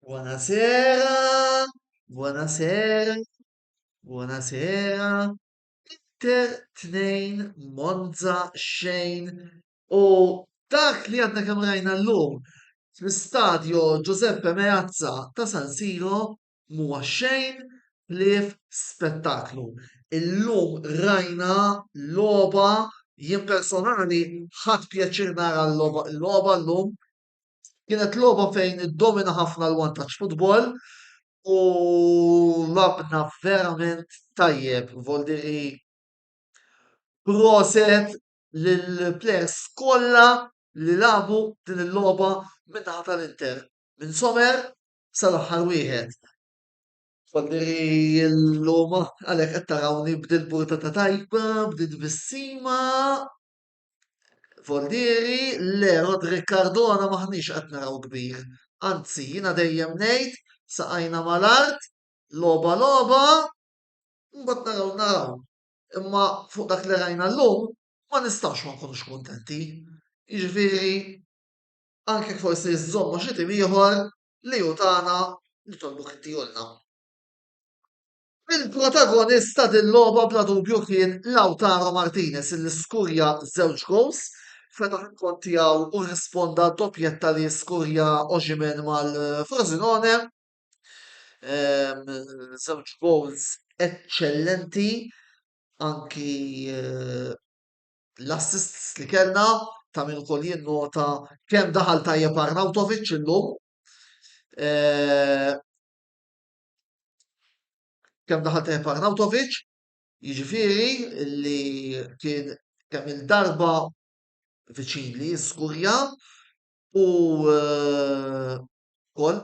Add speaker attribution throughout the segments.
Speaker 1: Buonasera, buonasera, buonasera. Inter tnejn Monza xejn u dak li għadna kemm rajna llum fl-istadju Giuseppe Meazza ta' San Siro m'huwa xejn ħlief spettaklu. Illum rajna logħba, jien personali ħadt pjaċir nara l-logħba llum. Kienet logħba fejn iddomina ħafna l-vantaġġ futbol u labna verament tajjeb. Voldiri proset lill-plejers kollha li lagħbu din il-logħba min-naħa tal-Inter, minn Sommer sal-aħħar wieħed. Fadli llum għalhekk qed tarawni b'dil portata tajba, b'dil bissima. Fordieri, le Roderick Cardona maħniex qed naraw kbir. Anzi, jiena dejjem ngħid saqajna mal-art, logħba logħba, mbagħad naraw naraw. Imma fuq dak li rajna llum ma nistgħux ma nkunux kuntenti. Jiġifieri anke jekk forsi żżomm ma' xi tim ieħor li hu tagħna, nitolbuk inti għolna. Il-protagonist ta' din logħba bla dubju kien Lautaro Martinez illi skurja żewġ goals, fetaħ il-kont tiegħu u risponda doppjetta li skurja Oximen mal-Frosinone. Ehm, żewġ goals eċċellenti anki eh, l-assists li kellna ta' min ukoll jinnota kemm daħal tajjeb Arnautovic illum. Eh, kemm daħal tajjeb Arnautovic, jiġifieri li kien kemm il-darba viċin li jiskurja u eh, kol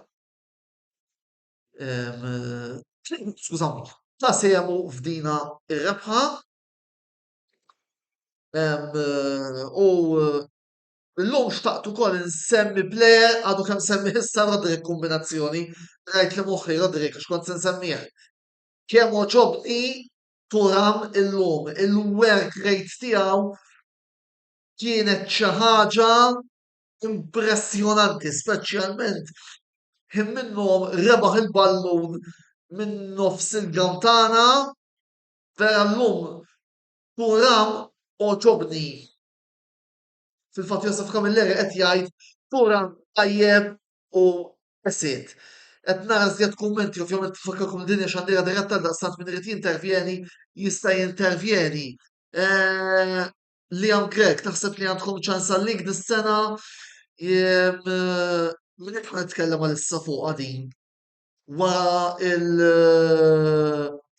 Speaker 1: eh, skużawni, ta' semu f'dina ir-rebħa U l-lum xtaqt ukoll nsemmi plejer għadu kemm semmi issa Rodrik kombinazzjoni, rajt li moħħi Rodrik għax kont se nsemmih. Kemm oġobni Turam illum, il-work rate tiegħu kienet xi ħaġa impressjonanti, speċjalment ħin minnhom rebaħ il-ballun minn nofs il-gawtana Vera llum Puram għoġobni. Fil-fatt Joseph Camilleri qed jgħid Puram tajjeb u esit. Qed nara żjed kummenti, ovvjament nfakkarkom li din hija xandira diretta għaldaqstant min irid jintervjeni jista' jintervjeni. Eh, Liam Grek, naħseb li għandkom ċans għalik dis-sena. Min qed nitkellem għalissa fuqha din? wara il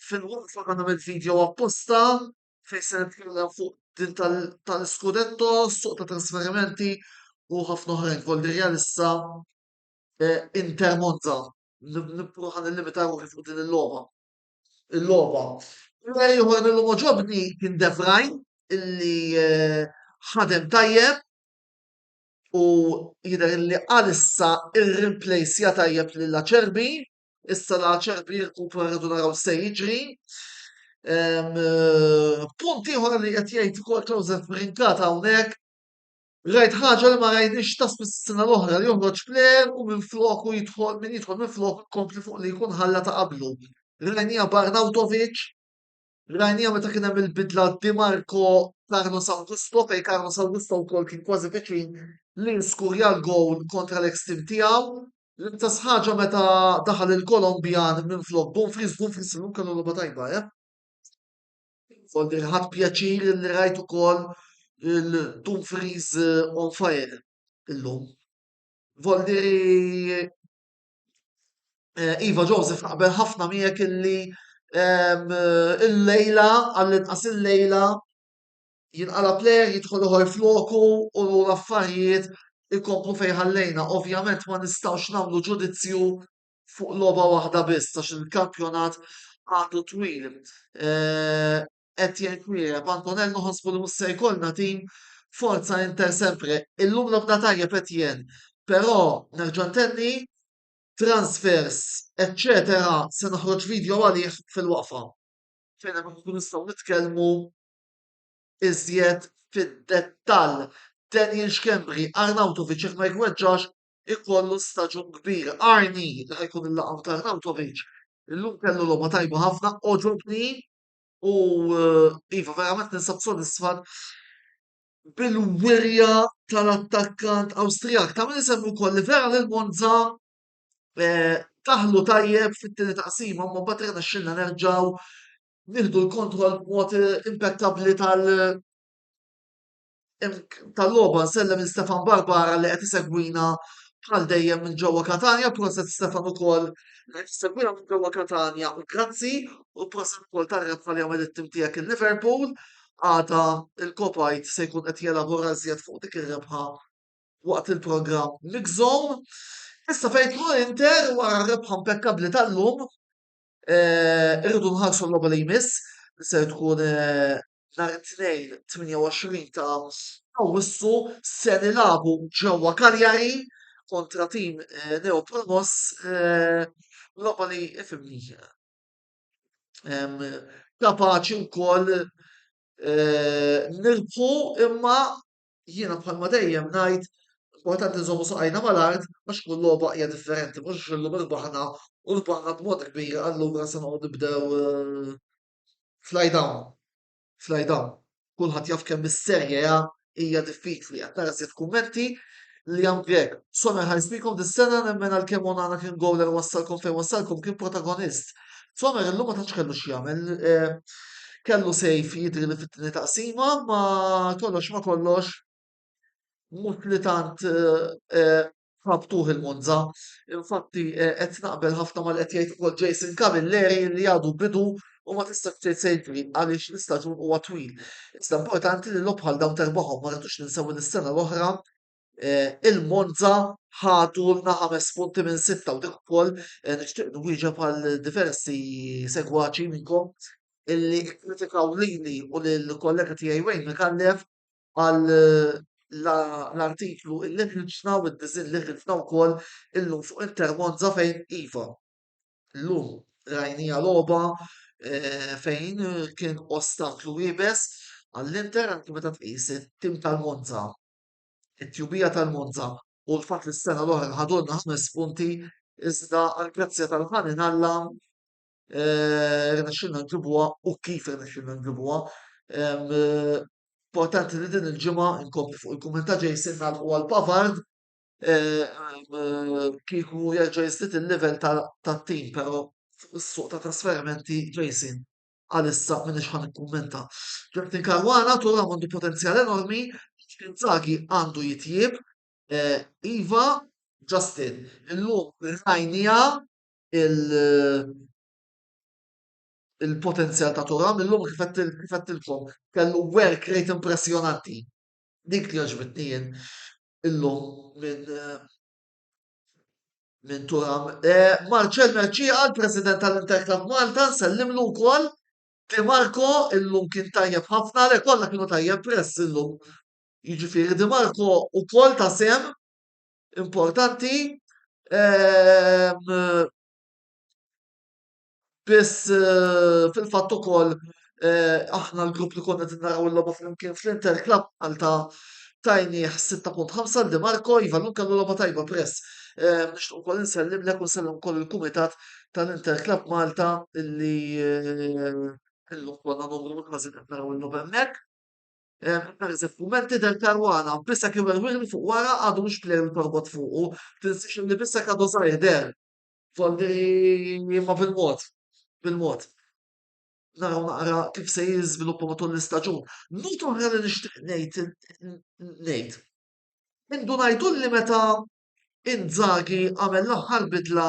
Speaker 1: fil-waqfa ta' nagħmel video apposta fejn se nitkellem fuq din tal-Scudetto, suq ta' trasferimenti u ħafna oħrajn Volderja issa eh, Inter Monza. Nibqgħu ħan illimita ruħi fuq din il-logħba. Il-logħba. Player ieħor mill ġobni kien De Vrajn illi eh, ħadem tajjeb u jidher li għalissa irrimplejsja tajjeb lil Acerbi, issa la Acerbi jirkupra rridu naraw se jiġri. Ehm, punt ieħor li qed jgħid ukoll Joseph Brinkata hawnhekk Rajt ħaġa li ma rajniex ta' s-sena l-oħra li joħroġ plejer u minn floku jidħol minn jidħol minn floku kompli fuq li jkun ħalla ta' qablu. Rajnija Barnautovic Rajniha meta kien hemm il-bidla Di Marco, Carlos Augusto fejn Carlos Augusto wkoll kien kważi viċin li jiskurja l-gowl kontra l-eks tim tiegħu. L-istess ħaġa meta daħal il-Kolombian minflok Dumfries, Dumfries illum kellu logħba tajba, eh? Foldi ħadd pjaċir li rajt ukoll il-Dumfries eh, on fire illum. Voldiri Eh, iva Joseph naqbel ħafna miegħek illi ehm, il-lejla, għall-inqas il-lejla, jinqala plejer jidħol uħor floku u l-affarijiet ikomplu fejn ħallejna. Ovvjament ma nistgħux nagħmlu ġudizzju fuq logħba waħda biss għax il-kampjonat għadu twil. Eh, qed jgħid Miereb, Antonell noħosbu li mhux se jkollna tim forza inter sempre. Illum logħbna tajjeb Etienne, però nerġa' ntenni transfers, eċċetera se noħroġ video għalih fil-waqfa. Fejn hemmhekk inkunu nistgħu nitkellmu iżjed fid-dettall. Daniel Schembri, Arnautovic jekk ma jweġġax ikollu staġun kbir. Arni li ħajkun il-laqam ta' Arnautovic illum kellu logħba tajba ħafna, għoġobni U iva, verament ninsab sodisfat bil-wirja tal-attakkant Awstrijak. Ta' min isemmi wkoll li vera lil Monza eh, taħlu tajjeb fit-tieni taqsima, ma mbagħad rena xilna nerġgħu nieħdu l-kontroll b'mod eh, impeccabbli tal- tal-logħba nsellem lil Stefan Barbara li qed isegwina bħal dejjem minn ġewwa Katanja, proset Stefan ukoll li qed isegwina minn ġewwa Katanja u grazzi u proset ukoll tar-rebħa li għamel it-tim tiegħek il-Liverpool. Għada il-Kopajt se jkun qed jelabora żjed fuq dik ir-rebħa waqt il-programm Mixom. Issa fejn tmur Inter wara r-rebħa impekkabbli tal-lum, eh, irridu nħarsu l-logħba li jmiss, se tkun eh, nhar it-Tnejn 28 ta' Awwissu se nilagħbu ġewwa Cagliari kontra tim neopromoss logħba li fimni kapaċi wkoll nirbħu imma jiena bħalma dejjem ngħid importanti nżommu saqajna mal-art għax kull logħba hija differenti mhux illum irbaħna u rbaħna b'mod kbir allura se noqgħod nibdew fly down, fly down. Kulħadd jaf kemm is-Serie A hija diffiċli, qed nara żied kummenti li jam Grek. Sommer ħares bikom dis-sena nemmen għal kemm Onana kien gowler wassalkom fejn wassalkom kien protagonist. Sommer illum ma tantx kellu x'jagħmel. Eh, kellu sejf jidri li fit-tieni taqsima, ma kollox ma kollox mhux li tant eh, eh, F'maftuħ il-Monza, infatti, qed naqbel ħafna ma' li qed jgħid ukoll Jason Camilleri li għadu bidu u ma tistax tgħid se jiġri għaliex l-istaġun huwa twil. Iżda importanti li logħob bħal dawn terbħhom ma rridux ninsew li s-sena l-oħra eh, il-Monza ħadu lna ħames punti minn sitta u dik ukoll eh, nixtieq nwieġeb għal diversi segwaċi minnkom illi kkritikaw lili u lill-kollega tiegħi Wayne Mikallef għal l-artiklu illi ħriġna u d-disinn li ħriġna wkoll illum fuq Inter Monza fejn iva, llum rajnija logħba eh, fejn kien ostaklu iebes għall-Inter anke meta tqis it-tim tal-Monza, it-tjubija tal-Monza u l-fatt li s-sena l-oħra ħadulna ħames punti iżda għall-grazzja tal-ħanin Alla rnexxilna nġibuha u kif rnexxilna nġibuha. Importanti li din il-ġimgħa nkomplu fuq il-kumment ta' Jason nagħlqu għal Pavard kieku jerġa' jiżdied il-level tat-tim però fuq is-suq ta' trasferimenti Jason għalissa m'iniex ħa nikkummenta. Justin Caruana tura għandu potenzjal enormi, Inzaghi għandu jitjieb, Iva Justin, illum rajnija il-potenzjal ta' Turam illum kif qedtilkom kellu work rate impressjonanti. Dik li għaġbitni jien illum minn minn Turam. E, Marċel Merċija, l-President tal-Interclub Malta, nsellimlu wkoll. Di Marco illum kien tajjeb ħafna, le kollha kienu tajjeb press illum. Jiġifieri Di Marco wkoll ta' sem importanti biss fil-fatt ukoll aħna l-grupp li konna qed naraw il-logħba flimkien fl-Inter Club Malta tajnieh 6.5 l Marco iva llum kellu logħba tajba press. Nixtieq ukoll insellimlek u nsellem ukoll il-kumitat tal-Inter Club Malta illi illum konna numru ħażin qed naraw illum hemmhekk. Pereżempju, f'mument tidher karwana, b'isek jew erwieħ li fuq wara għadu mhux pleru li torbot fuqu, tinsiex li b'isek għadu żgħir deher. Folli ma bil-mod, bil-mod. Naraw naqra kif se jiżviluppa matul l-istaġun. Nota oħra li nixtieq ngħid ngħid. Indunajtu li meta Inzaghi għamel l-aħħar bidla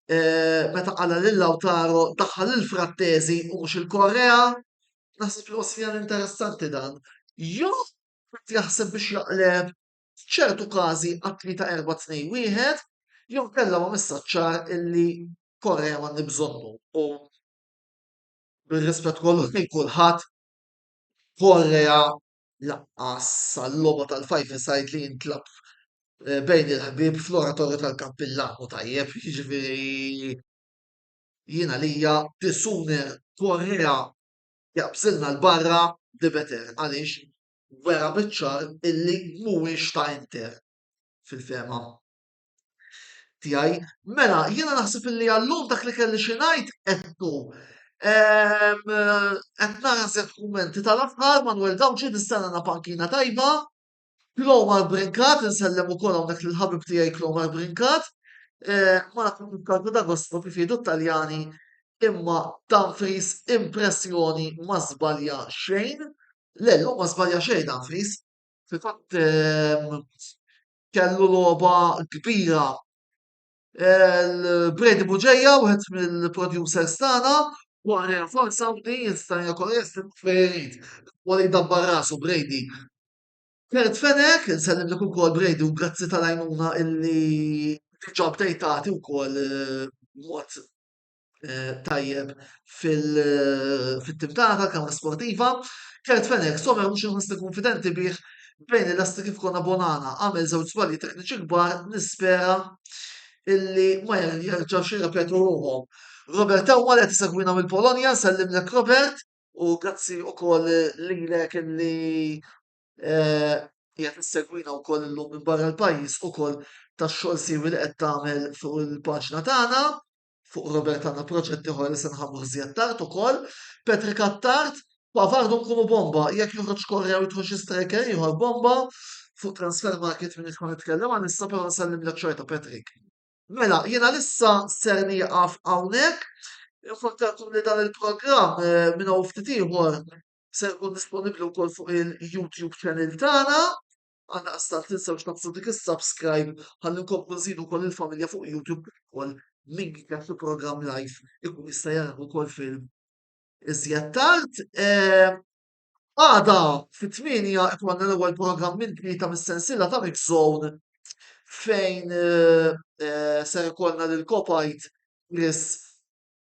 Speaker 1: eh, meta qala lil Lautaro daħħal il-Frattesi u mhux il-Korea, naħseb li wasfjan interessanti dan. Jo jaħseb biex jaqleb ċertu każi għatli ta' erba' tnej wieħed, jew kellha ma messaċċar illi Korea ma nibżonnu u bil-rispett kollu lejn kulħadd Korea Lanqas għal-logħba tal-five-a-side li jintlagħab bejn il-ħbieb fl-oratorju tal-Kappillan hu tajjeb, jiġifieri jien għalija the sooner Correa jaqbżilna 'l barra the better għaliex wera biċ-ċar illi mhuwiex ta' Inter fil-fehma tiegħi. Mela, jiena naħseb li għallum dak li kelli xi ngħid qedtu. Qed naħseb kummenti tal-aħħar Manuel Gawċi nistenna na pankina tajba. Klomar Brinkat, nsellem ukoll hawnhekk lil ħabib tiegħi Klomar Brinkat. Eh, ma nafx il-kalku da gosto kif jgħidu Taljani imma Dumfries impressjoni ma żbalja xejn. Le, ma żbalja xejn Dumfries. Fil-fatt kellu logħba kbira. Il-Brady Buġeja, wieħed mill-producers tagħna, wara forsa li jista' jkun jista' fejrid. Wara jdabbar rasu Brady. Kert Fenek, nsellim li ukoll Brady u grazzi tal-għajnuna illi ġob tejtati wkoll mod eh, tajjeb fil-tifdata, eh, kamra sportiva. Kert Fenek, sommer mhux inħossni konfidenti bih bejn il-lasti kif konna Bonana għamel żewġ żbalji tekniċi kbar nispera illi ma jerġgħu xi repetu ruhom. Robert Tawwa li tisegwina mill-Polonja, sellimlek Robert, u grazzi u koll lilek illi eh, jgħat nisegwina u koll l-lum minn barra l-pajis u koll ta' xol siwi li qed tagħmel fuq il-paġna tagħna. Fuq Robert għandna proġett ieħor li se nħabbru iżjed tard ukoll. Patrick Attard, Pavard għandhom ikunu bomba, jekk joħroġ Correa u jidħol xi striker ieħor bomba. Fuq transfer market m'iniex ħa nitkellem għalissa però nsellimlek xorta Patrick. Mela, jien għalissa ser nieqaf hawnhekk. Infakkarkom li dan il-programm eh, minn hawn ftit ieħor se jkun disponibbli wkoll fuq il-YouTube channel tagħna. Għaldaqstant tinsewx tagħmsu dik is-subscribe ħalli nkomplu nżidu wkoll il-familja fuq YouTube kif ukoll min jitgħab fi programm live ikun jista' jarah ukoll film iżjed tard. Għada fit-tmienja ikollna l-ewwel programm minn tlieta mis-sensiela ta' Mix Zone fejn ser ikollna lil Kopajt Chris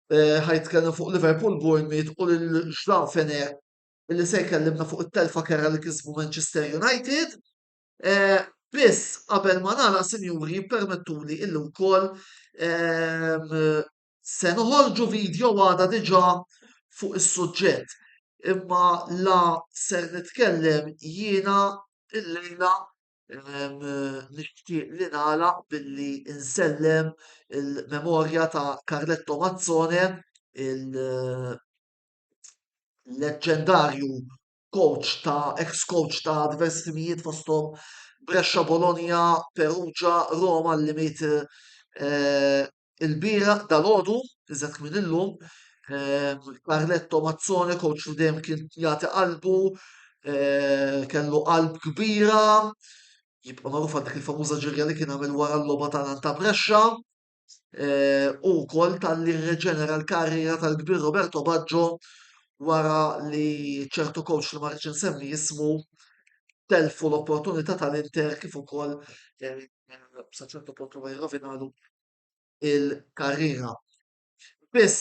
Speaker 1: ħajtkellem fuq Liverpool Bournemouth u lil Ġdan Fener li se jkellimna fuq it-telfa kerha li kisbu Manchester United. Eh, biss qabel ma nara sinjuri jippermettuli illi wkoll ehm, se noħorġu video għada diġà fuq is-suġġett. Imma la ser nitkellem jiena illejla ehm, nixtieq li nala billi insellem il-memorja ta' Carletto Mazzone il- leġġendarju coach ta' ex coach ta' diversi timijiet fosthom Brescia, Bologna, Perugia, Roma li miet eh, il-bira dal-ħodu, iżet kmin illum, eh, Carletto Mazzone, coach li dejjem kien jagħti qalbu, eh, kellu qalb kbira, jibqa' magħruf għal dik il-famuża ġirja li kien għamel wara l-logħba ta' ta' Brescia. u wkoll talli rriġenera l-karriera tal-kbir Roberto Baggio wara li ċertu coach li ma rridx insemmi ismu telfu l-opportunità tal-Inter kif ukoll sa ċertu punt huwa jirrovinalu il-karriera. Biss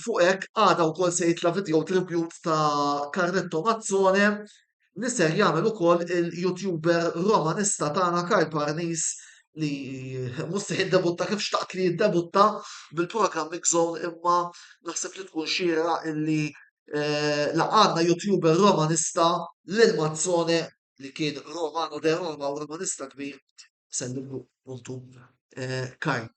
Speaker 1: fuq hekk għada wkoll se jitla' video tribute ta' Carletto Mazzone li ser jagħmel ukoll il-YouTuber Romanista tagħna Karl Parnis li mhux se jiddebutta kif xtaqt li jiddebutta bil-programm Mix Zone imma naħseb li tkun xira illi eh, laqgħadna YouTuber Romanista lil Mazzone li kien Romano de Roma u Romanista kbir Sendillu puntu eh, Kajn.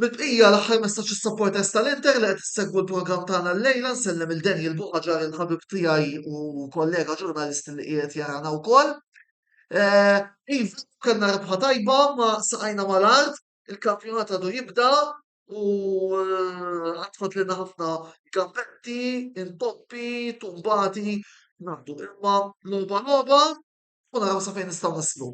Speaker 1: Bil-bqija l-aħħar messaġġ is-supporters tal-Inter li qed issegwu l-programm tagħna l-lejla nsellem il Daniel Buħaġar il-ħabib tiegħi u kollega ġurnalist li qiegħed jarana wkoll. Eh, iv, kellna rebħa tajba ma saqajna mal-art, il-kampjonat għadu jibda u eh, għatfat li ħafna gambetti, intoppi, tumbati, nabdu imma loba loba u naraw sa fejn nistgħu naslu.